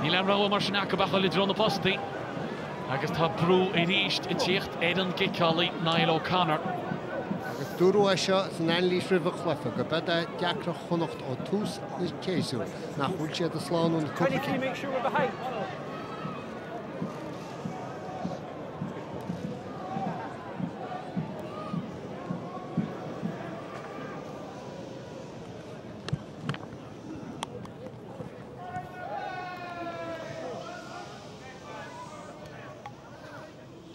Níl aon rogha mar sin acu ach dul i dtreo na postaí agus tá brú arís ag teacht ar an gciceálaí Niall O'Connor. Agus dúradh é seo san anailís roimh an chluiche gurb é deacracht Chonnacht ó thús an tséasúir nach bhfuil siad ag slánú na cúpla cinn.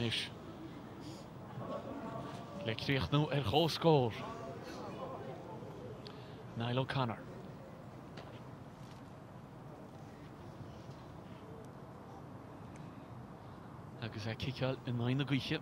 Anois, le críochnú ar chomhscór, Niall O'Connor. agus é ag ciceáil in aghaidh na gaoithe.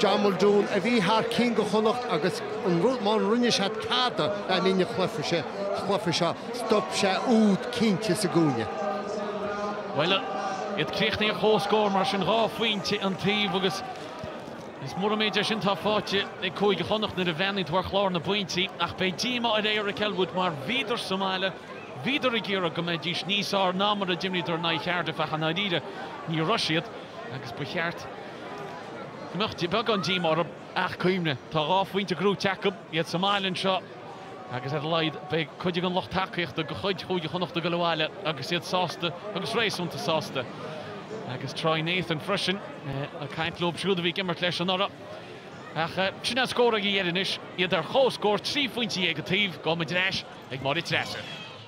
John Muldoon, a bhí thar cinn do Chonnacht agus an rud má rinne sé tada le linn an chluife seo, stop sé úd cinnte sa gcúinne. Bhuel, iad críochnaithe ar chomhscór mar sin, dhá phointe an taobh agus is mór an méid é sin atá faighte ag Cúige Chonnacht nuair a bhreathnaíonn tú ar chlár na bpointí ach beidh díomá ar Eric Elwood mar bhíodar sa mbaile, bhíodar ag iarraidh go mbeidís níos fhearr ná mar a d'imríodar in aghaidh Chardiff ach i ndáiríre ní raibh siad. agus ba cheart go mbeadh beagán díomá orthu ach cuimhnigh, tá dhá phointe gnóthaithe acu, iad sa mbaile anseo agus ar a laghad beidh cuid den lucht tacaíochta de chuid Chúige Chonnacht ag dul abhaile agus iad sásta agus réasúnta sásta. Agus Troy Nathan freisin ag caint leo siúd a bhí ag imirt leis anuraidh. Ach sin an scór ag an deireadh anois, iad ar comhscór trí phointe dhéag an taobh, gabhfaidh muid ar ais ag Máire Treasa.